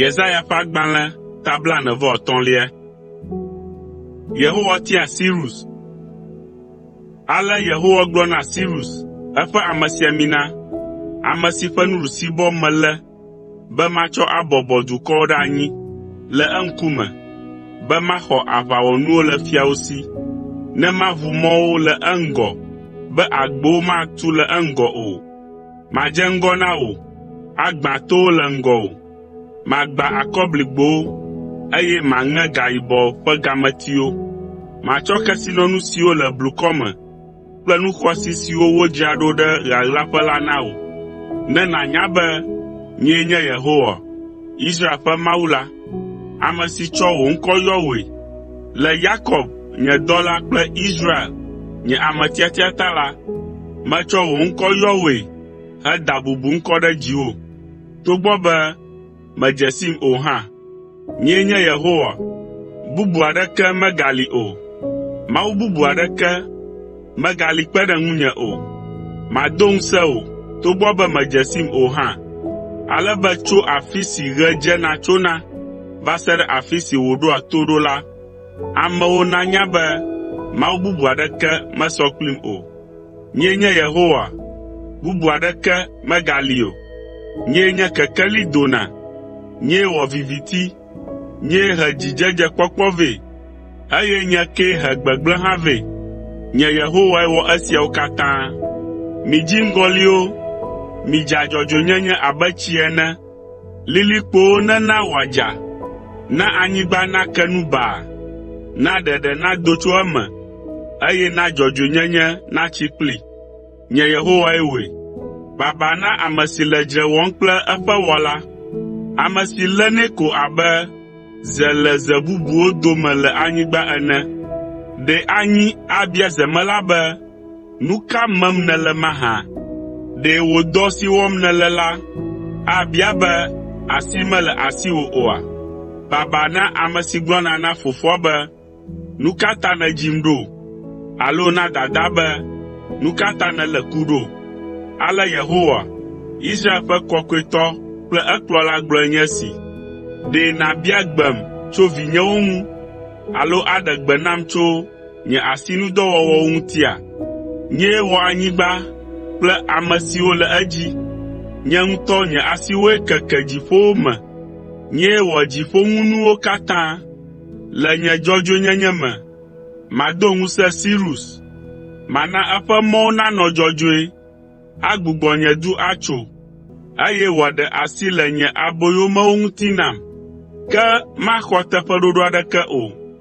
Yesaya ƒe agbalẽ ta blaene vɔ etɔ̃lia. Yehowa tia Sirus. Ale Yehowa gblɔ na Sirus, eƒe amesiamina, ame si ƒe nuɖusibɔ melé be matsɔ abɔbɔ dukɔwo ɖe anyi le eŋkume, be maxɔ aʋawɔnuwo le fiawo si, ne maʋu mɔwo le eŋgɔ be agbowo matu le eŋgɔ o. Madze ŋgɔ na wò, agbã towo le ŋgɔwò. Magbã akɔbligbowo, eye maŋe gayibɔ ƒe gametiwo. Matsɔ kesinɔnu siwo le blukɔ me kple nu xɔasi siwo wodzra ɖo ɖe ɣaɣlaƒe la na wò, ne nànya be nyee nye Yehowa, Israel ƒe Mawu la, ame si tsɔ wò ŋkɔ yɔ wòe. Le Yakob, nye dɔla kple Israel, nye ame tiatia ta la, metsɔ wò ŋkɔ yɔ wòe heda bubu ŋkɔ ɖe dziwò. mèdze sim o hã. Nyee nye Yehowa, bubu aɖeke megali o. Mawu bubu aɖeke megali kpe ɖe ŋunye o. Mado ŋusẽ wò togbɔ be mèdze sim o hã, ale be tso afi si ɣe dzena tsona va se ɖe afi si wòɖoa to ɖo la, amewo nanya be mawu bubu aɖeke mesɔ kplim o. “Nyee nye Yehowa, bubu aɖeke megali o. Nyee nye kekeli dona, nyee wɔ viviti, nyee he dzidzedzekpɔkpɔ vɛ, eye nye kee he gbegblẽ hã vɛ. Nye Yehowae wɔ esiawo katã. Mi dziŋgɔliwo, midza dzɔdzɔenyenye abe tsi ene, Lilikpowo nena wòadza, na anyigba nake nu baa, na ɖeɖe nado tso eme, eye na dzɔdzɔenyenye natsi kplii. Nye Yehowae wɔe. Baba na ame si le dzre wɔm kple eƒe Wɔla, ame si lénɛ ko abe ze le ze bubuwo dome le anyigba ene. Ɖe anyi abia zemela be, “Nu ka mem nèle mahã? Ɖe wò dɔ si wɔm nèle la abia be asi mele asiwò oa? Baba na ame si gblɔna na fofoa be, ‘Nu ka ta nèdzim ɖo?’ Alo na dadaa be, ‘Nu ka ta nèlé ku ɖo?’ Ale Yehowa, Israel ƒe Kɔkɔetɔ kple ekplɔla gblɔe nye esi. ‘Ɖe nàbia gbem tso vinyewo ŋu, alo aɖe gbe nam tso nye asinudɔwɔwɔwo ŋutia? Nyee wɔ anyigba kple ame siwo le edzi. Nye ŋutɔ nye asiwoe keke dziƒowo me. Nyee wɔ dziƒoŋunuwo katã. Le nye dzɔdzɔenyenye me, mado ŋusẽ Sirus. Mana eƒe mɔwo nanɔ dzɔdzɔe. Agbugbɔ nye du atso, eye wòaɖe asi le nye aboyomewo ŋuti nam, ke maxɔ teƒeɖoɖo aɖeke o.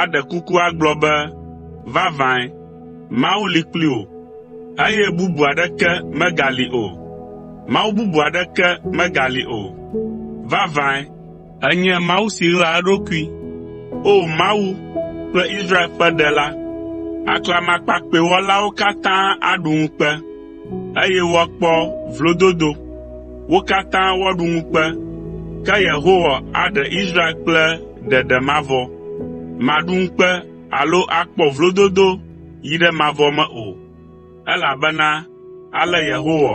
aɖe kuku agblɔ be, “Vavãe, Mawu li kpli wò, eye bubu aɖeke megali o, Mawu bubu aɖeke megali o. Vavãe, ènye Mawu si ɣlaa eɖokui. O Mawu kple Israel ƒe Ɖela, aklamakpakpɛ wɔlawo katã aɖu ŋukpe.” eye woakpɔ vlododo. Wo katã woaɖu ŋukpe, ke Yehowa aɖe Israel kple ɖeɖe mavɔ. Màɖu ŋukpe alo akpɔ vlododo yi ɖe mavɔ me o, elabena ale Yehowa,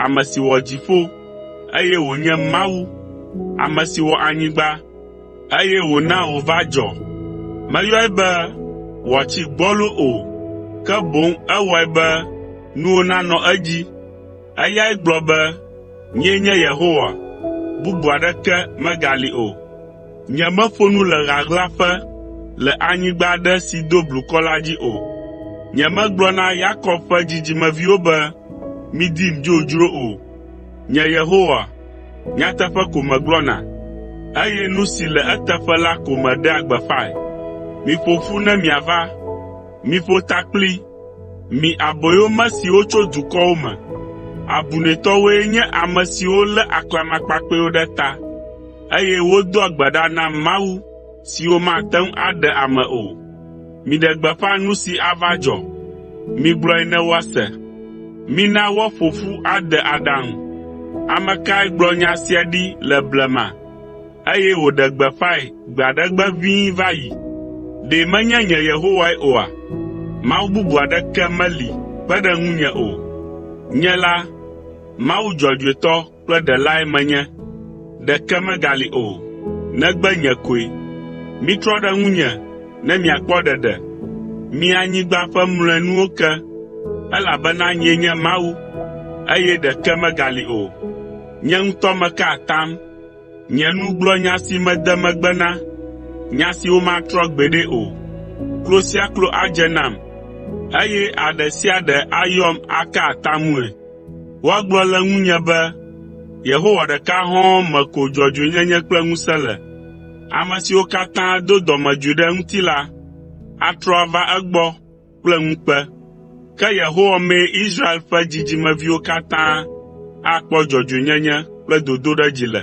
ame si wɔ dziƒo, eye wònye Mawu, ame si wɔ anyigba, eye wòna wòva dzɔ. Meyɔe be wòatsi gbɔlo o, ke boŋ ewɔe be nuwo nanɔ edzi. Eyae gblɔ be, “Nyee nye Yehowa, bubu aɖeke megali o. Nyemeƒo nu le ɣaɣlaƒe le anyigba aɖe si do blukɔ la dzi o. Nyemegblɔ na Yakob ƒe dzidzimeviwo be, ‘Midim dzodzro’ o. Nye Yehowa, Nyateƒe ko megblɔna, eye nu si le eteƒe la ko meɖea gbeƒãe. Miƒo ƒu ne miava, miƒo ta kpli, mi aboyome siwo tso dukɔwo me. Abunɛtɔwoe nye ame siwo lé aklamakpakpɛwo ɖe ta, eye wodoa gbe ɖa na mawu siwo mate ŋu aɖe ame o. Miɖe gbeƒã nu si ava dzɔ. Migblɔe ne woase. Mina woaƒo ƒu ade aɖaŋu. Ame kae gblɔ nya sia ɖi le blema, eye wòɖe gbeƒãe gbe aɖe gbe ʋĩi va yi? Ɖe menye nye Yehowae oa? Mawu bubu aɖeke meli kpe ɖe ŋunye o. Nye la, Mawu dzɔdzɔetɔ kple ɖelae menye, ɖeke megali o, negbe nye koe. Mitrɔ ɖe ŋunye ne miakpɔ ɖeɖe, mi anyigba ƒe mlɔenuwo ke, elabena nyee nye Mawu, eye ɖeke megali o. Nye ŋutɔ meka atam, nye nu gblɔ nya si mede megbe na, nya si womatrɔ gbeɖe o. Klo sia klo adze nam, eye aɖe sia aɖe ayɔm aka atamue. Woagblɔ le ŋunye be, “Yehowa ɖeka hɔ̃ɔ me ko dzɔdzɔenyenye kple ŋusẽ le.” Ame siwo katã do dɔmedzoe ɖe eŋuti la, atrɔ ava egbɔ kple ŋukpe. Ke Yehowa mee Israel ƒe dzidzimeviwo katã akpɔ dzɔdzɔenyenye kple dodoɖedzi le.